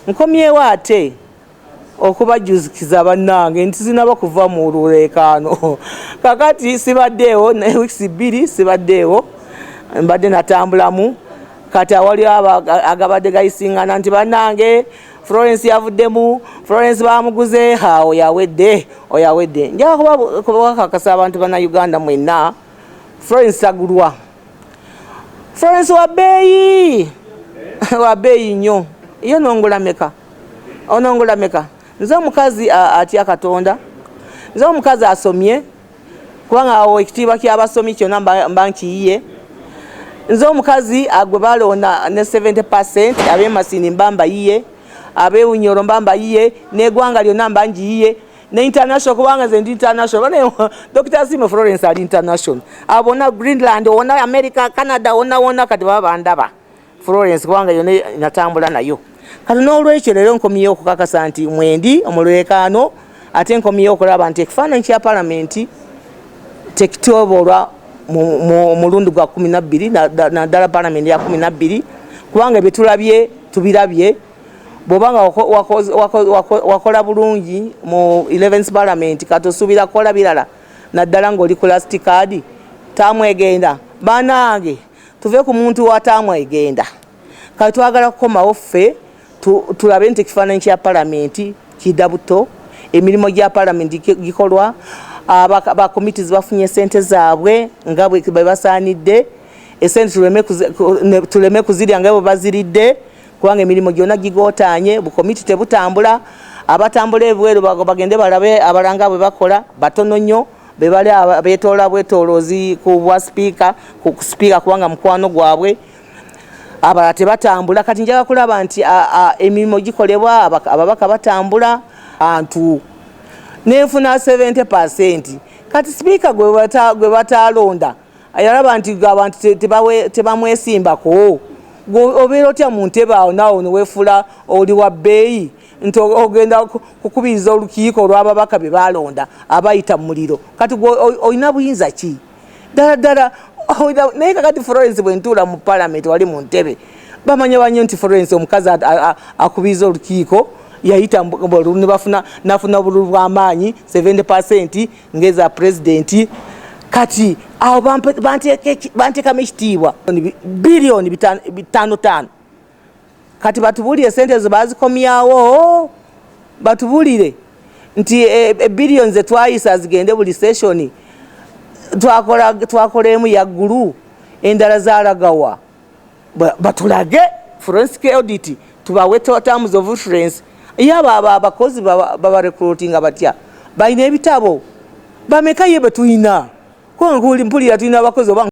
nkomyewo ate okubajuzikiza bannange nti zinaba kuva mu luleekaano kakati sibaddeewo naye wiisi bbiri sibaddeewo mbadde natambulamu kati awali agabadde gayisingana nti bannange florence yavuddemu florence bamuguze ha oyawedde oyawedde njakuba kubakakasa abantu bana uganda mwenna florence agulwa Florence wa beeyi wa beeyi nnyo yo nongula meka onongula meka nze omukazi atya katonda nze omukazi asomye kubanga awo ekitiibwa kyabasomi kyona mba nkiyiye nze omukazi agwe balonda ne 70 percent abemasini mba mbayiye abewunyoro mba mbayiye negwanga lyona mba ngiyiye ne international kubanga ze ndi international bane Dr. Simo Florence ali international abona Greenland ona America Canada ona ona kati baba ndaba Florence kubanga yone natambula nayo kati n'olwekyo leero nkomyewo okukakasa nti mwendi omulwekaano ate nkomyewo okulaba nti ekifaananyi kya palamenti tekityoboolwa mulundi gwa kumi nabbiri naddala palamenti ya kumi nabbiri kubanga byetulabye tubirabye bwoba nga wakola bulungi mu 11 parliament kati osuubira kukola birala naddala ng'oli ku last card taamu egenda banange tuve ku muntu wa taamu egenda kati twagala kukomawo ffe tulabe nti ekifaananyi kya palamenti kida buto emirimu gya palamenti gikolwa bakomiti zibafunye sente zaabwe nga bwebasaanidde esente tuleme kuzirya nga bwe baziridde kubanga emirimu gyona gigotanye bukomiti tebutambula abatambula ebweru bagende balabe abalanga bwe bakola batono nnyo bebali betoola bwetolozi ku bwa sipiika ku sipiika kubanga mukwano gwabwe abalala tebatambula kati njaga kulaba nti emirimu gikolebwa ababaka batambula antu nenfuna 70 kati sipiika gwe batalonda ayalaba nti abantu tebamwesimbako obeera otya mu ntebe awo naawo newefuula oli wa bbeeyi nti ogenda kukubiriza olukiiko olw'ababaka be baalonda abayita mu muliro kati gwe olina buyinza ki ddala ddala naye kakati florence bwe ntuula mu palamenti wali mu ntebe bamanya banyo nti florence omukazi akubiriza olukiiko yayita ne bafuna nafuna obululu bw'amaanyi 70 pasenti ngeza pulezidenti kati awo bantekamu ekitiibwa biliyoni bitano tano kati batubulire sente ezo bazikomyawo batubulire nti eh, eh, biliyoni zetwayisa zigende buli seshoni twakola emu yaggulu endala zalagawa batulage forensic audit tubawe terms of reference yaba aba abakozi baba recruiting abatya balina ebitabo bameka ye betulina kuba mpulira tulina abakozi oba